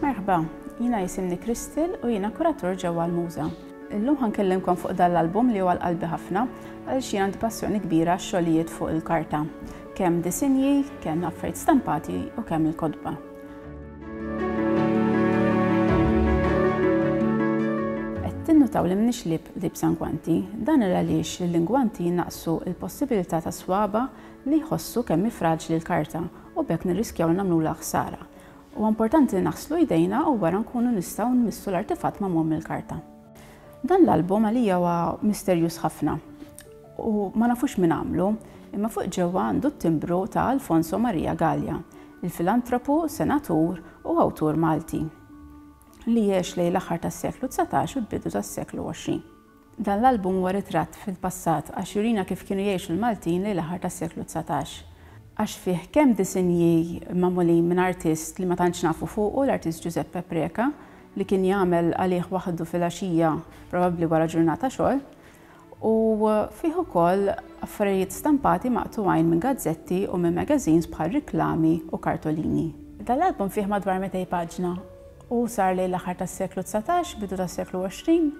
Merħba, jina jisimni Kristil u jina kuratur ġewwa l-Muża. Illum ħankellimkom fuq dan l-album li huwa l-qalbi ħafna għal xi għandi passjoni kbira xogħlijiet fuq il-karta, kemm disinji, kemm affarijiet stampati u kemm il-kodba. Tinnutaw li mnix lib li b'sangwanti, dan il għaliex li l-ingwanti jinnaqsu il-possibilità ta' swaba li jħossu kemm fraġli l-karta u b'hekk nirriskjaw li nagħmlula ħsara. Huwa importanti li naħslu jdejna u wara nkunu nistgħu nmissu l-artifatt magħmum mill-karta. Dan l-album għalija huwa misterjuż ħafna. u ma nafux min għamlu, imma fuq ġewwa għandu t-timbru ta' Alfonso Maria Galea, il-filantropu, senatur u awtur Malti li għex lejn l-aħħar tas-seklu dsatax u l-bidu tas-seklu għoxrin. Dan l-album huwa ritratt fil-passat għax jurina kif kienu jgħixu l-Maltin lejn l-aħħar tas-seklu dsatax. Għax fih kemm disinji magħmulin minn artist li ma tantx nafu fuqu, l-artist Ġużeppe Preca, li kien jagħmel għalih waħdu fil-għaxija probabbli wara ġurnata xogħol, u fih ukoll affarijiet stampati maqtugħin minn gazzetti u minn magazines bħal riklami u kartolini. Dan l-album fih madwar mitej paġna u sar lejn l-aħħar tas-seklu dsatax, bidu tas-seklu għoxrin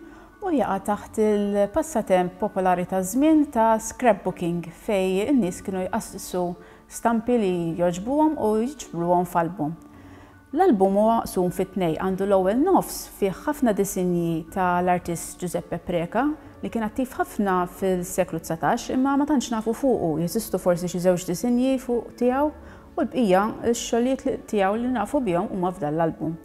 u jaqa' taħt il-passatemp popolari taż-żmien ta' scrapbooking fejn in-nies kienu jqassqsu stampi li jogħġbuhom u jġbruhom f'album. L-album huwa maqsum fi tnejn, għandu l-ewwel nofs fih ħafna disinji ta' l-artist Giuseppe Preca li kien attiv ħafna fil-seklu dsatax imma ma tantx nafu fuqu, jeżistu forsi xi żewġ disinji fuq tiegħu u l-bqija x-xogħlijiet li tiegħu li nafu bihom huma f'dan l-album.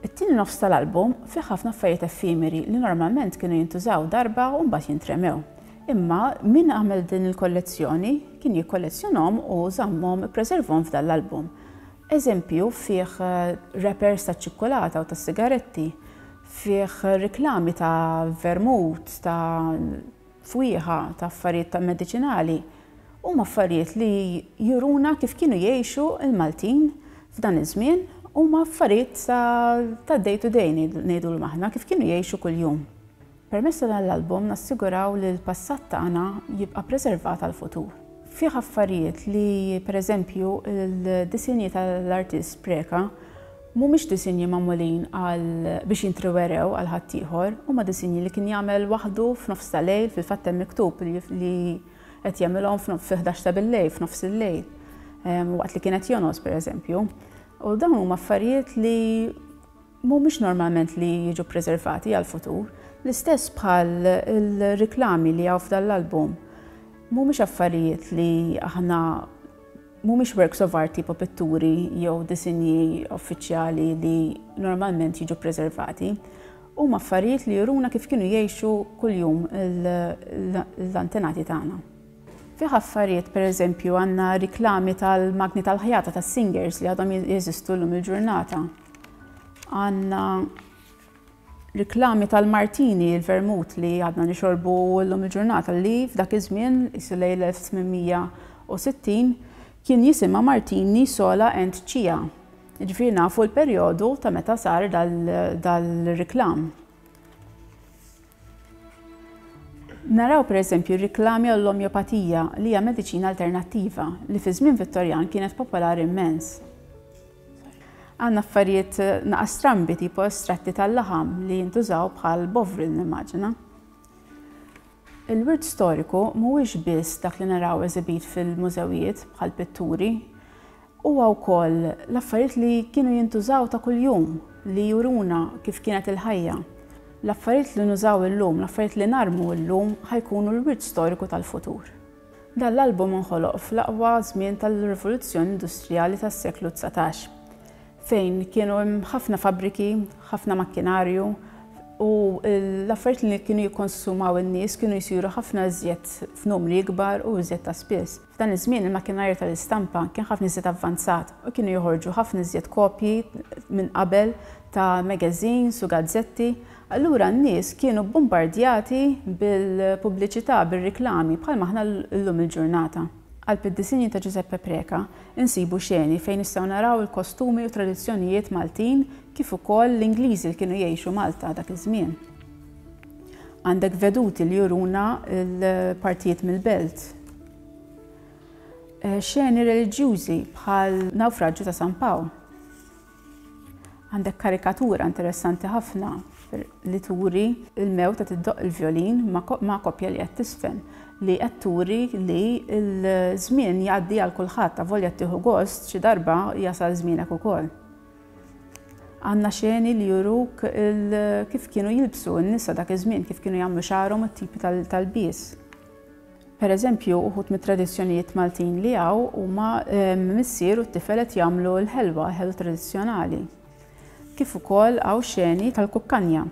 It-tieni nofs ta' l-album fih ħafna affarijiet effimeri li normalment kienu jintużaw darba u mbagħad jintremew. Imma min għamel din il-kollezzjoni kien jikkollezzjonhom u żammhom ippreservhom f'dan l-album. Eżempju fih wrappers taċ-ċikkulata u tas-sigaretti, fih riklami ta' vermut, ta' fwieħa, ta' affarijiet ta' mediċinali, huma affarijiet li juruna kif kienu jgħixu l-Maltin f'dan iż-żmien, huma affarijiet ta' day to day ngħidulhom aħna, kif kienu jgħixu kuljum. Permezz ta' dan l-album nassiguraw li l-passat tagħna jibqa' preservat għall-futur. Fih affarijiet li, per eżempju, il-disinji tal-artist Preca mhumiex disinji magħmulin biex jintrewerew għal ħaddieħor, huma disinji li kien jagħmel waħdu f'nofs ta' lejl, fil-fatt hemm miktub li qed jagħmilhom fil-ħdax ta' bil-lejl, f'nofs il-lejl, waqt li kien qed jonqos, per eżempju. U dawn huma affarijiet li, mhumiex normalment li jiġu ppreservati għall-futur, l-istess bħal il-riklami li hawn f'dan l-album, mhumiex affarijiet li aħna, mhumiex works of art tipo pitturi jew disinji uffiċjali li normalment jiġu ppreservati. Huma affarijiet li juruna kif kienu jgħixu kuljum l-antenati tagħna. Fih affarijiet, pereżempju, għandna riklami tal-magni tal-ħjata tas-Singers li għadhom jeżistu llum il-ġurnata. Għandna riklami tal-Martini, il-vermut li għadna nixorbu llum il-ġurnata li f'dak iż-żmien, isu lejn 1860, kien jisimha Martini sola and cia. Ġifieri nafu l-perjodu ta' meta sar dal-riklam. Naraw pereżempju r-riklami għall-omjopatija li hija mediċina alternattiva li fiż-żmien Vittorjan kienet popolari mmens. Għandna affarijiet naqas strambi tipo estratti tal-laħam li jintużaw bħal bovril nimmaġina. Il-wirt storiku mhuwiex biss dak li naraw eżibit fil-mużewijiet bħal pitturi, huwa wkoll l-affarijiet li kienu jintużaw ta' kuljum li juruna kif kienet il-ħajja. L-affarijiet li nużaw illum, l-affarijiet li narmu illum ħa jkunu l-wirt storiku tal-futur. Dan l-album inħoloq fl-aqwa żmien tal-rivoluzzjoni industrijali tas-seklu dsatax, fejn kienu hemm ħafna fabbriki, ħafna makkinarju u l-affarijiet li kienu jikkonsumaw in-nies kienu jsiru ħafna iżjed f'numri ikbar u iżjed ta' spiss. F'dan iż-żmien il-makkinarju tal-istampa kien ħafna iżjed avvanzat u kienu joħorġu ħafna iżjed kopji minn qabel ta' magazines u gazzetti Allura n-nies kienu bbumbardjati bil-pubbliċità, bir-riklami, bħalma aħna llum il-ġurnata. Għall-piddisini ta' Ġużeppe Preca nsibu xeni fejn nistgħu naraw il-kostumi u tradizzjonijiet Maltin kif ukoll l-Ingliżi li kienu jgħixu Malta dak iż-żmien. Għandek veduti li juruna l-partijiet mill-belt. Xeni reliġjużi bħal Nawfraġġju ta' San Pawl. Għandek karikatura interessanti ħafna li turi l-mewt qed iddoqq il-vjolin ma' koppja li qed tiżfen, li qed turi li l-żmien jgħaddi għal kulħadd, avolja ttieħu gost, xi darba jasal żmienek ukoll. Għandna xeni li juruk kif kienu jilbsu n-nisa dak iż-żmien, kif kienu jagħmlu xagħarhom u t-tipi tal-lbies. Per eżempju, uħud mit-tradizzjonijiet Maltin li hawn huma missier u t-tifel qed jagħmlu l-ħelwa, ħelwa tradizzjonali. Kif ukoll hawn xeni tal-kukkanja.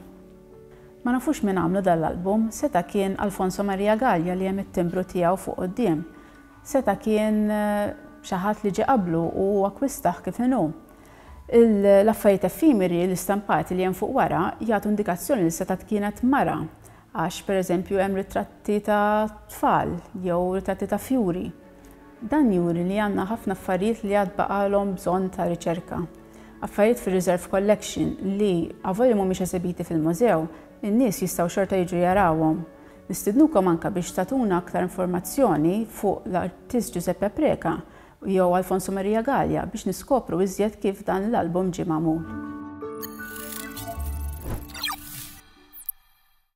Ma nafux min għamlu dan l-album, seta' kien Alfonso Maria Gallia li hemm it-timbru tiegħu fuq quddiem. Seta' kien xi ħadd li ġie qablu u hu akkwistah kif inhu. L-affarijiet effimeri, l-istampati li hemm fuq wara, jagħtu indikazzjoni li setgħet kienet mara Għax, per eżempju, hemm ritratti ta' tfal jew ritratti ta' fjuri. Dan juri li għandna ħafna affarijiet li għad baqgħalhom bżonn ta' riċerka. Affarijiet fir-reserve collection li, avolja mhumiex esebiti fil-mużew, in-nies jistgħu xorta jiġu jarawhom. Nistidnukom anke biex tagħtuna aktar informazzjoni fuq l-artist Giuseppe Preca jew Alfonso Maria Galea biex niskopru iżjed kif dan l-album ġie magħmul.